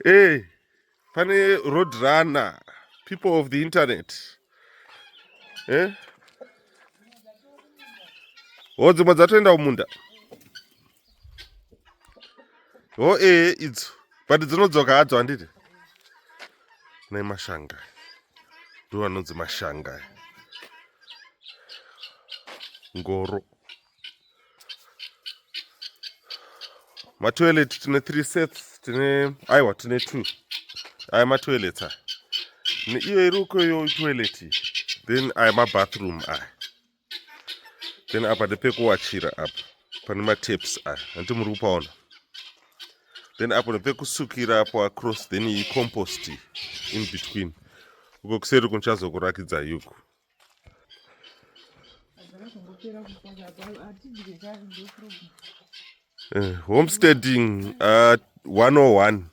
hey, pane road runner people of the internet eh? ho oh, dzimwe dzatoenda kumunda ho oh, ee eh, idzo but dzinodzoka hadzo handiti nei mashanga ndo anonzi mashanga ngoro matoilet tine three sets tine aiwa tine two aya matoilet aya neiyo iri uko iyo toilet then aya mabathroom aya then apa ndepekuwachira apa pane mataps aya hanti muri kupaona then apo nepekusukira apo across then icompost in between uko kuseri kunochazokurakidza yuku Uh, homesteading uh, 101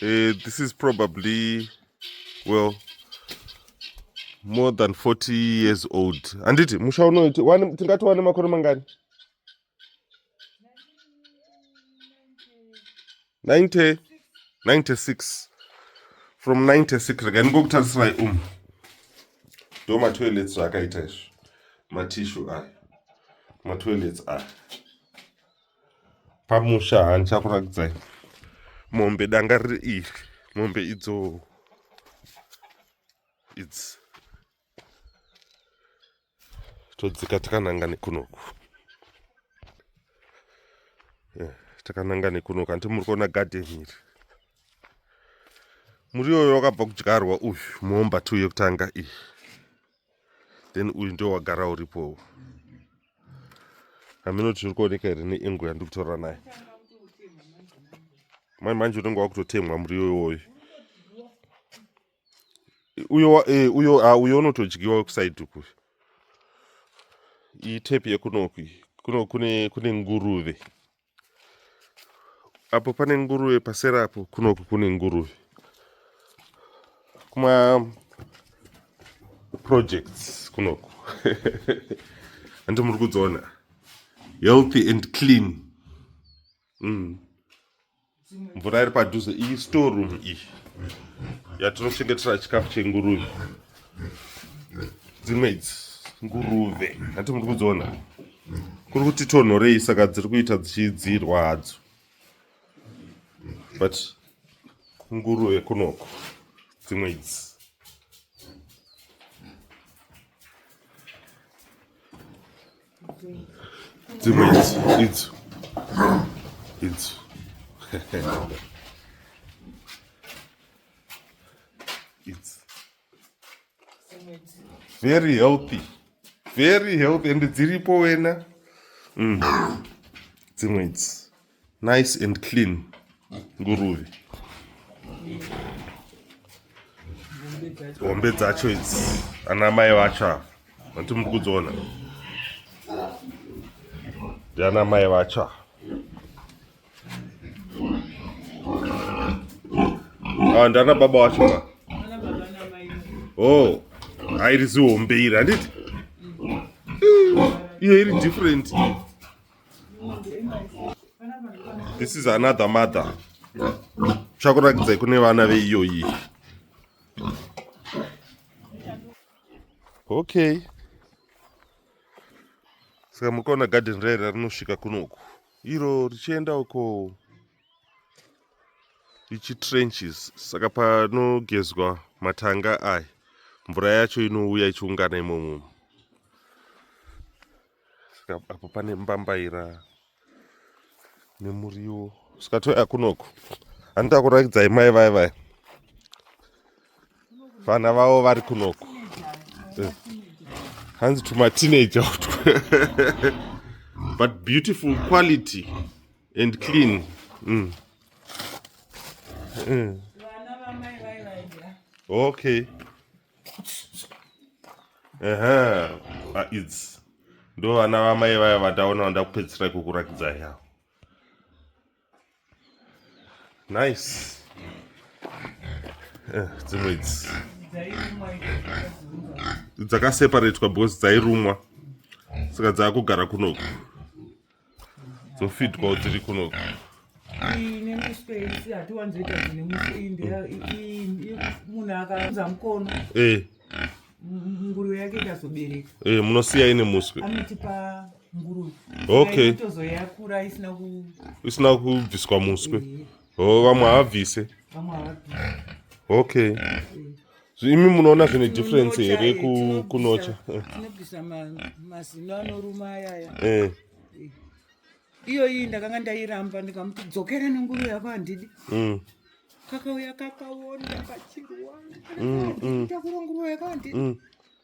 uh, eh, this is probably well more than 40 years old handiti musha unoiti tingati wane makore mangani 90 96 from 96 rega ndingokutarisirayi um ndo matoilets zvaakaita izvo matishu aya matoilets aya pamusha haa ndichakurakidzai mombe danga riri iri mombe idzo idzi todzika takananga nekunoku eh, takananga nekunoku hanti muri kuona garden iri muri yoyo wakabva kudyarwa uyu muomba two yekutanga iyi then uyu ndo wagara uripowo hameno tiri kuoneka here neengo yandiri kutorora nayo mai manje unenge wakutotemwa muri yoyoyo uyo eh, uyo ah, uyo unotodyiwa wekusaidi uku iyi tepi yekunoku kuno kune kune nguruve apo pane nguruve pasera apo kunoku kune nguruve kuma projects kunoku andi muri kudziona healthy and clean mm. mvura iri padhuze iyi store room iyi yatinochengetera chikafu chenguruve dzimwe idzi nguruve hati muri kudziona kuri kuti tonhorei saka dziri kuita dzichidzirwa hadzo but nguruve kunoko dzimwe idzi dzimwe idzo idzo idzo idzo very healthy very healthy and dziripo wena mm. dzimwe idzi Nice and clean nguruve. Hombe dzacho idzi ana mai vacho ava vanti muri kudziona ndiana mai vacho ava ah, ndiana baba wacho ka o oh, airi zihombe iri handiti iyo iri different this is another mother chakuratidzai kune vana veiyoyi okay saka muri kuona garden rairi rinosvika kunoku iro richienda uko ichi trenches saka panogezwa matanga aya mvura yacho inouya ichiungana imomo Saka apo pane mbambaira nemuriwo saka touya kunoku handita kuratidzai mai vaya vaya vana vavo vari kunoku eh. hanzi tumateenager utwo but beautiful quality and clean mm. Mm. okay ehe aids ndo vana vamai vaya vandaona vandakupedzisira kukurakidza ya nice eh, dzimwe idzi dzakaseparatwa because dzairumwa saka dzaakugara kunoku dzofitwa dziri kuno munosiya ine muswe okay isina kubviswa muswe Oh, vamwe havabvise. Vamwe havabvise. Okay. Imi munoona zvine difference here kunocha? Tinobvisa mazino anoruma ayaya. Eh. eh. Iyoyi ndakanga ndairamba ndikamuti dzokera nenguva yako handidi. Mm. Kakauya kakaona kachirwa. Mm, mm. Ndakuronguruwa yako handidi.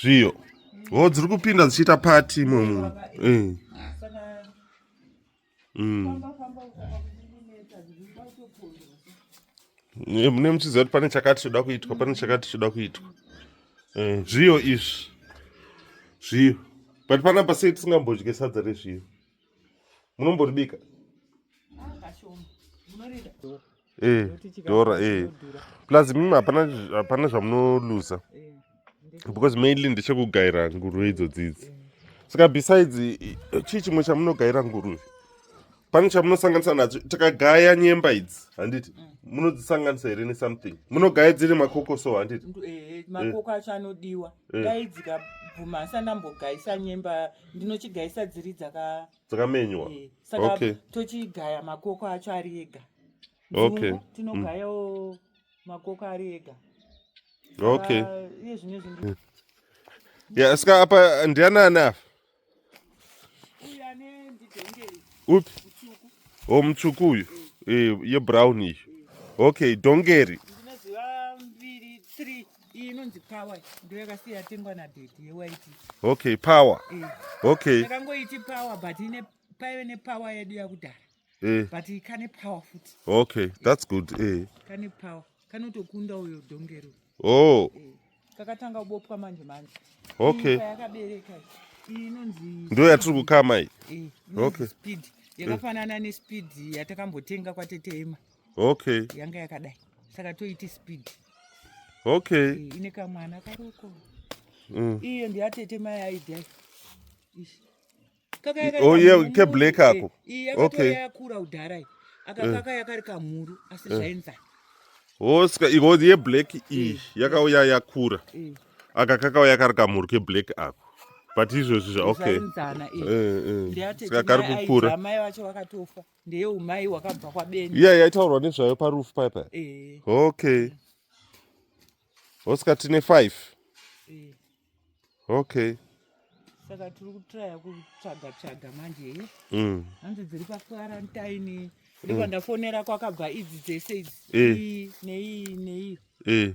zviyo ho dziri kupinda dzichiita pati imwe munhu eh. mm. eh, mune muchiziva kuti pane chakati choda kuitwa pane chakati choda kuitwa eh, zviyo izvi zviyo but panapa sei tisingambodye sadza rezviyo munomboribika eh, dora eh. plus mimi hapana zvamunoluza eh, because mainly ndechekugaira nguruve idzo dzidzi saka besides chii chimwe chamunogaira nguruve pane chamunosanganisa nacho takagaya nyemba idzi handiti mm. munodzisanganisa here nesomething munogaya dziri makokoso handiti makoko acho anodiwa dai dzikabvuma asandambogaisa nyemba ndinochigaisa dziri dzaka dzakamenywa eh, saka okay. tochigaya makoko acho ari ega okay. Mm. tinogayawo mm. makoko ari ega okay iye zvine zvinhu mm. ya saka apa ndianani apa upi o oh, mutsvuku uyu eh, yebrown iyo okay dongeri Iyi inonzi power ndiyo yakasiya yatengwa nadhedhi yewaiti. Okay, power. Eh. Okay. Takangoiti power but ine paive nepower yedu yakudhara. Eh. But kane power futi. Okay, that's good. Eh. Kane power. Kanotokunda uyo dongero. Oh. Eh. Kakatanga kubopwa manje manje. Okay. Yakabereka. Iyi inonzi Ndiyo yatiri kukama iyi. Eh. Okay. Speed. Yakafanana nespeed yatakambotenga kwaTeteema. okay yanga yakadai saka toiti speed okay eh, ine kamwana karoko mm. iyo ndiyatete mai aidai oye oh, keblack ako eh, okay yakura udharai akakaka eh. yakari kamhuru asi zvainza hoska iho yeblack iyi yakauya yakura akakakauya kari kamhuru keblack ako but izvozvi zva okay saka kari kukura ndeye umai wakabva kwabeni iya yaitaurwa nezvayo parufu paya paya eh. okay oscar tine five eh. okay saka tiri kutraya kutsvaga tsvaga manje eh? mm. hanzi dziri pakwarantaini mm. ndikwandafonera kwakabva idzi dzese idzi nei nei nei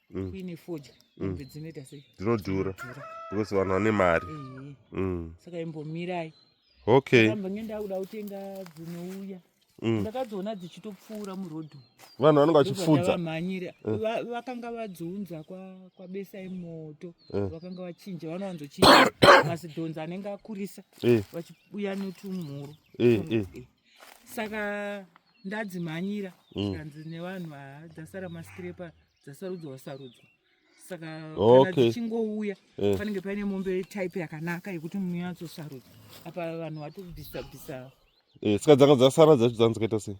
mm. kuine fodya mm. mombe dzinoita sei dzinodhura because vanhu vane mari mm. saka imbomirai okay amba nge ndakuda kutenga dzinouya ndakadziona dzichitopfuura murodhu vanhu vanenge vachipfudza mhanyira vakanga vadziunza kwabesai moto vakanga vachinja vanowanzochinja mazidhonzi anenge akurisa vachiuya netumhuru saka ndadzimhanyira mm. zvikanzi nevanhu haa dzasara masikirepa dzasarudzwa wasarudzwa saka kana dzichingouya eh. panenge paine mombe type yakanaka yekuti munyatsosarudza apa vanhu vatobvisa bvisa eh, saka dzanga dzasara dzacho dzanzikaita sei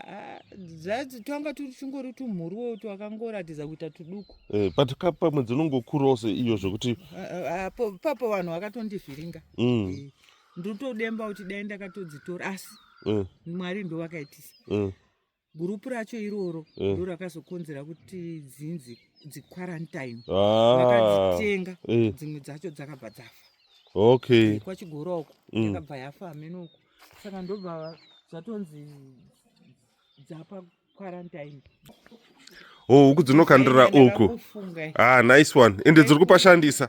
ah, dzatanga tuchingori tumhuriwo twakangoratidza kuita tuduku eh, but pamwe dzinongokurawo seiyo zvekuti ah, ah, papo vanhu vakatondivhiringa mm. ndotodemba kuti dai ndakatodzitora asi mm. mwari ndo vakaitisa mm. gurupu racho iroro mm. ndo rakazokonzera kuti dzinzi dziquarantine ah. vakadzitenga eh. dzimwe dzacho dzakabva dzafa okay eh, kwachigora uko mm. yakabva yafa amene uko saka ndobva zvatonzi dzapa quarantine oh huku dzinokandira uku ah nice one ende dziri kupashandisa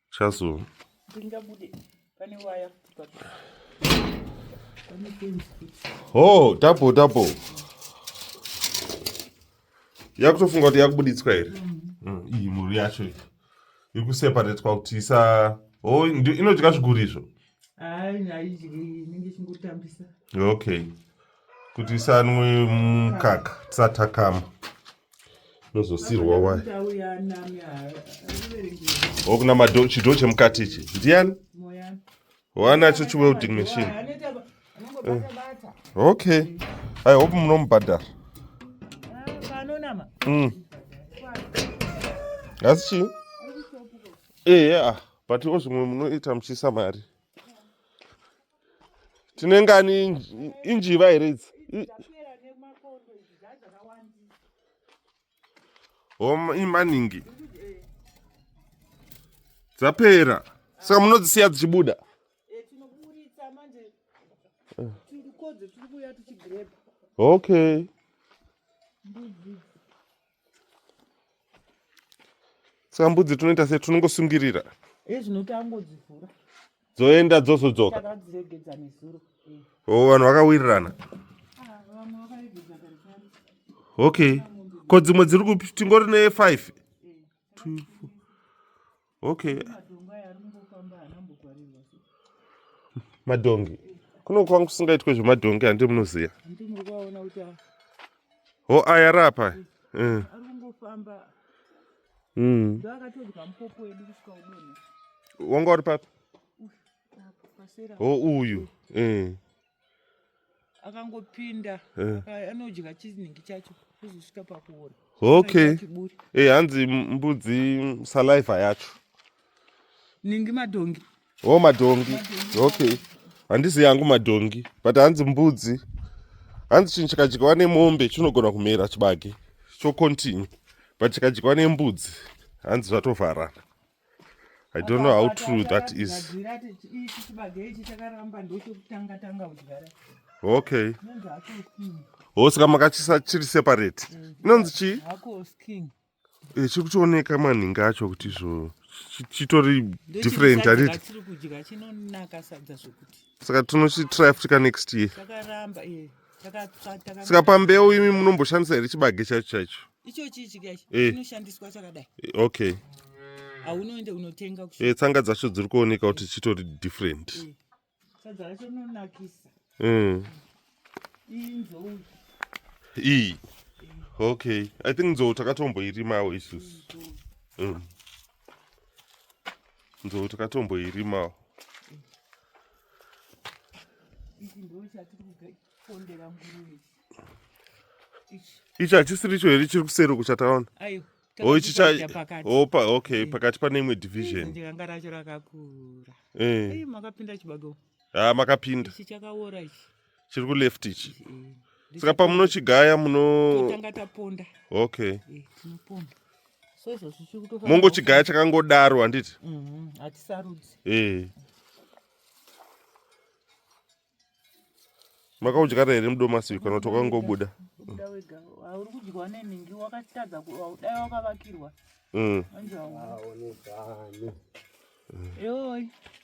Chazo. Ndingabude pane waya. Oh, tapo tapo. Yakutofunga kuti yakubuditswa here? Mm. Iyi mhuri yacho iyi. Iri kuseparatwa kuti isa Oh, inodya zviguri izvo. Hayi, haidyi, inenge ichingotambisa. Okay. kuti isanwe mukaka tisatakama nozosirwa wai okuna mado chidho chemukati ichi ndiyani wanacho chiwelding machine eh. okay i hope munomubhadhara mm. asi chii ehe eh, ah but ozvimwe munoita muchiisa mari tine ngani injiva here idzi imaningi dzapera saka munodzisiya dzichibuda okay saka mbudzi tunoita se tunongosungirira ezvinotangodzivhura dzoenda dzozodzoka takadziregedza nezuro o oh, vanhu vakawirirana ah, okay ko dzimwe dziri kupi tingori ne five two four okay madhongi kuno kwanga kusingaitwe zvemadhongi handi munoziva ho aya rapa mm. mm. wanga uri papi ho uyu mm. akangopinda eh. anodya chizinhingi chacho kuzosvika pakuora okay eh hanzi mbudzi saliva yacho ningi madhongi oh madhongi okay handizi yangu madhongi but hanzi mbudzi hanzi chinhu chikadyiwa nemombe chinogona kumera chibage chocontinue but chikadyiwa nembudzi hanzi zvatovharana I don't know how true that is. Okay. Oh, saka makachisa chiri separate. Mm. Inonzi chii? Hako skin. Eh, chiri kutooneka manhingi acho kuti zvo chitori different handiti? Saka tinochitry futi ka next year. Chakaramba, eh. saka pambeu imi munomboshandisa here chibage chacho chacho eh. okay aunoende unotenga eh, tsanga dzacho dziri kuoneka kuti chitori different eh. sadza racho rinonakisa mm. iyi nzou iyi okay i think nzou takatomboirimawo isusu mm. nzou takatomboirimawo ichi hachisiri icho here chiri kuseri uku chataona o ichi opa okay eh. pakati pane imwe division ndikanga racho rakakura eh. makapinda chibago ha ah, makapinda ichi chakaora ichi chiri kuleft ichi mm. saka pamunochigaya munotanga taponda okay eh, tinoponda so izvozvo chiri kutofa mongochigaya chakangodaro handiti mm-hmm. hatisarudzi eh makaudya here mudomasi uyu kana kuti wakangobuda uri kudyiwa nenhingi wakatadza dai wakavakirwa mm. anzi haonekani